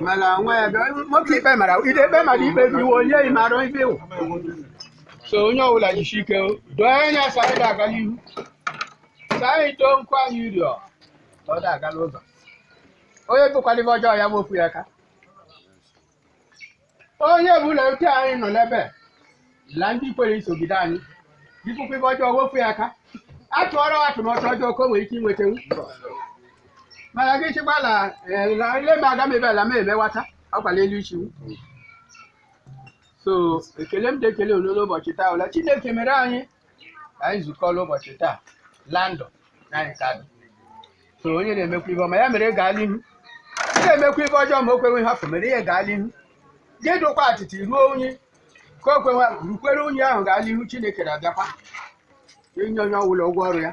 mana nwa ya bịa nwoke ikpe mara ide ikpe mara ikpe dị iwe onye ị mara ibe wụ so onye ọbụla jisi ike doo anya saịdị aga n'ihu saịdị too nkwa anyị rịọ ọ da-aga n'ụzọ onye bụkwa la ive ọjọọ ya wepụ ya aka onye bụla otu anyị nọ n'ebe a, la ndị kwere isogide anyị bipụkwa ive ọjọọ wepụ ya aka a tụọrọ atụmatụ ọjọọ ka o nwere ike inwetenwu mana gị chịkwala ile m aga m ebe ala m emewata ọkwala elu ichiwu so ekele m dị ekele unu n'ụbọchị taa la chineke mere anyị ka anyị zukọ la ụbọchị taa la ndụ na anyị ka dị so onye na-emekwa ive ọma ya mere gaa la ihu ị na-emekwa ive ọjọọ ma o kwewe ihe afọ mere ya gaa la ihu gị dụkwa atịtị ruo unyi ka o kwewe rukwere unyi ahụ gaa la ihu chineke na-abịakwa inye onye ọbụla ụgwọ ọrụ ya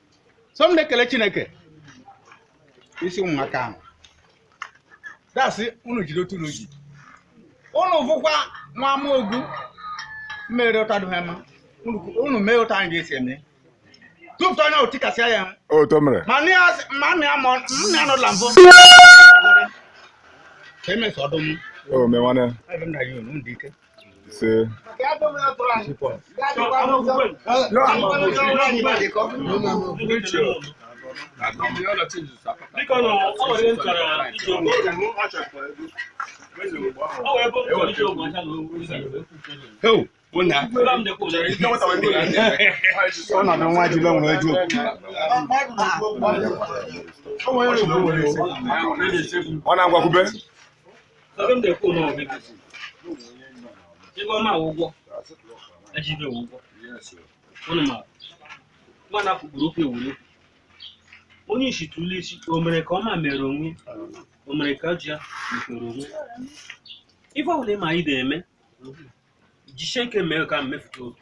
so m na-ekele chineke isi ụmụaka ahụ dasị unu jiri otu unu ji unu vụkwa nwa amaogu mere otu adụghị mma Unu- unu mee otu anyị ga-esi eme tụpụta onye ahụ tikasịa ya otu o mere ma nne ya sị- ma nna ya ma nna ya nọla mbụ ka emesọ ọdụm o me nwanne ebe m na ya unu dị ike ise ọnọdụ nwa ji lọ nwere ju ọ na-agwakwube Ebe m na-ekwu na ọgụ ego si. Ebe ọma awụ ụgwọ, eji ibe wụ ụgwọ. Unu ma, mgbe a na-apụ gburu okwu ewuru okwu. Onye isi tụlụ isi, o mere ka ọma mere onwe, o mere ka ji ya mepere onwe. Ife ọbụla ị ma ị na-eme, jisie ike mee ka mmefuta obi.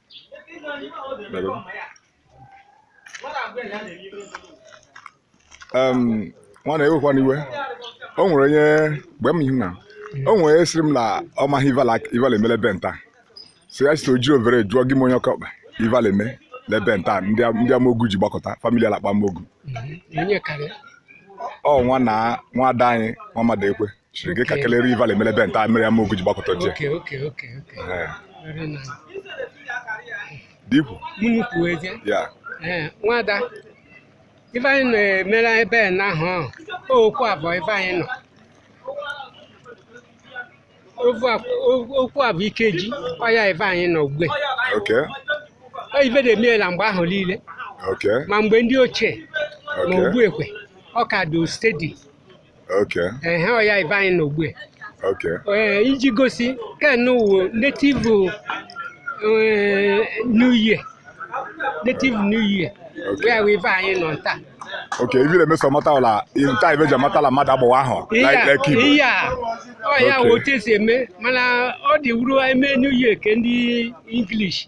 Em, nwanna ewekwana iwe o nwere onye mgbe m ihu na o nwere onye sịrị m na ọ maghị ive la ive la-eme la ebe nta so ya site o jiri overe jụọ gị m onye ọkọkpa ive la-eme la ebe nta ndị am- ndị amogu ji gbakọta famili alakpa amogu onye karịa ọ nwa na nwa ada anyị nwa mmadụ ekwe nke ka kelere ive ele emele ebe nta mere Amaogu ji gbakọta oche Okay, okay, okay, okay. Ee, Very nice. dikwu Unu kwuo ezie. ya Ee, nwada ife anyị na-emere ebe a n'ahụ ahụ okwu avọ ife anyị nọ Ovu a- o- okwu avọ Ikeji ọ ya ife anyị nọ ugbe okay Ọ ife na-emeela mgbe ahụ niile okay ma mgbe ndị ochie ma okay ugbu e kwe ọ ka dị steady ha ọ ya ive anyị nọ ugbe iji gosi ken wụ native new year native new year where we buy anyị nọ nta okay if you make some matter la in time e ji amata la mmadụ bo ahụ like like you yeah oh yeah what is eme mana ọ dị wụrụ e mee new year ke ndị english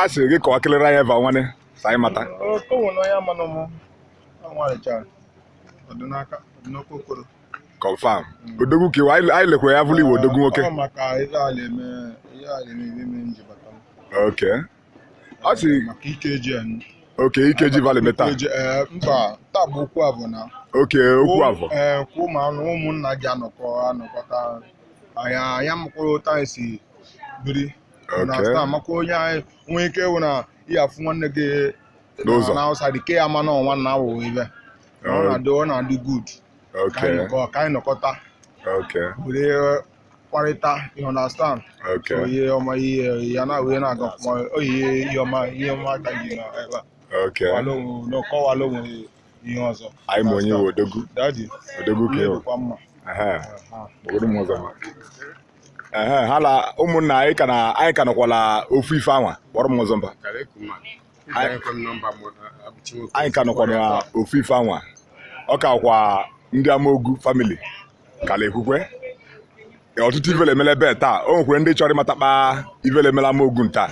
a sịrị gị kọwa kelere anyị eva nwanne ka anyị mata confam odogwu ka ị wụ anyị lekwa ya bụrụ ị wụ odogwu nwoke ok ọ sị ok Ikeji ive ele eme taa eh, mba taa bụ okwu avọ na ok okwu avọ eh, kwụ ma ụmụnna gị anọkọ anọkọta anyị anyị makwuru otu anyị si biri na Okay. sta makwa onye anyị nwee ike ịwụ na ị ya-afụ nwanne gị N'ụzọ. na outside ke ya ma na ọ nwanna wụ ive ọ Oh. na-adị ọ na-adị good ka anyị Okay. nọkọ ka anyị nọkọta Okay. were kwarịta you understand so Okay. ihe ọma ihe ya na wee na-aga ọfụma oyihe ihe ọma ihe ọma ka gị na ebe a Okay. kọwala onwe na ọ kọwala onwe ihe ọzọ anyị ma onye ị wụ odogwu dadi odogwu ka ị wụ dịkwa mma Ehe, obodo m ọzọ ma. Ehe, ha la ụmụnna anyị ka na anyị ka nọkwala ofu ife anwa kpọrọ m ọzọ mba anyị ka nọkwala ofu ife anwa ọ kakwa ndị Amaogu family ka la-ekwukwe ọtụtụ ive ele emele ebe taa o nwekwere ndị chọrọ ịmatakpa ive ele emele Amaogu nta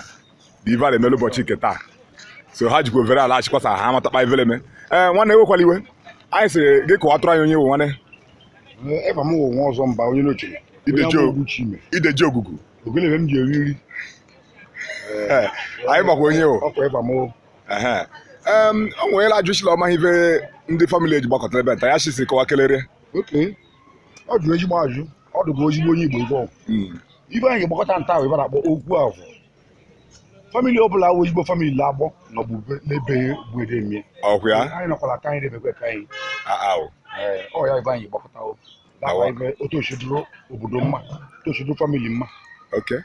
ive a na-emelu ụbọchị nke taa so ha jikwa overe la-achọkwa sa ha amatakpa ive ele eme ee nwanne ewekwala iwe anyị sịrị gị kọwatụrụ anyị onye ị wụ nwanne eva m wụ nwa ọzọ mba onye n'oche Ideji o- Ugochime ideji ogugu ogene ive m ji eri nri Ee, anyị makwa onye ị wụ ọkwa eva m wụ Ehe. Em, o nwere ajụchi la ọ ma ihe ndị family a ji gbakọtara ebe nta ya chisi kọwa kelere okay ọ jụrụ ezigbo ajụ ọ dụgo ezigbo onye igbo igbo ive anyị ji gbakọta nta wụ ive a la-akpọ okwu avọ family ọ bụla wụ ezigbo family na-agbọ na ọbụbe n'ebe mgbede mie ọkwa ya anyị nọkwara ka anyị debekwa ka anyị aawụ Ee, ọ ya ive anyị gbakọta o Awa. nakwa ibe otu o si dụrụ obodo mma otu o si dụrụ family mma okay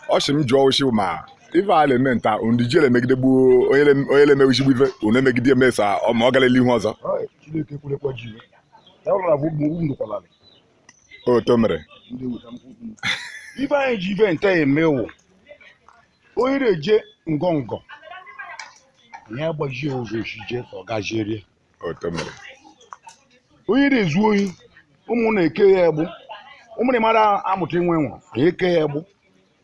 ọ sị m jụọ osi ma ife a na-eme nta ụdị e ji emegide gboo onye na-emegide ife unu emegide emesa ọ ma ọ gara ihu ọzọ Ọ, Chineke kwurekwa ji iwe. ya ụlọ na bụ ugwu ndukwala oto mere ndị weta mkpụ ugwu ive anyị ji ive ntaa eme wụ onye na-eje ngọngọ ya agbajie ụzọ ojije ka ọ gajiere oto mere onye na-ezu ohi ụmụnna ekee ya egbụ ụmụnna mara amụta inwe nwaanyị ekee ya egbụ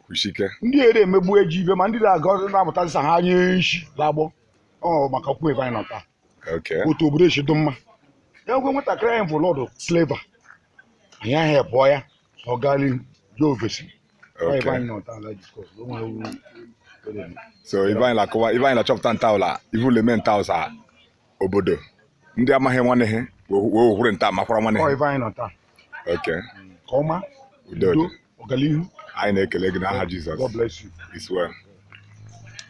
kwusike ndị a na-emegbu eji ibe ma ndị na-aga na-amụta nsa ha nye nshi lagbọ ọ maka okwu ebe anyị nọ taa Okay. otu obodo esi dị mma ya gwe nwatakịrị anyị bụ lọdụ sleva anyị ahụ ebụọ ya ọ gaa n'ihu jee ofesi Ọ ebe Okay. anyị nọ taa ala jikọ o nwere uru o na-eme. So ive anyị na-akọwa ive anyị na-achọpụta ntaa wụ la ive le-eme ntaa ụsa obodo ndị amaghị nwanne ha were ntaa makwara nwanne Ọ ha. ebe anyị nọ taa Okay. ka ọma Udo udo dị. ọganihu Anyị na-ekele gị n'aha Jizọs. God bless you It's well.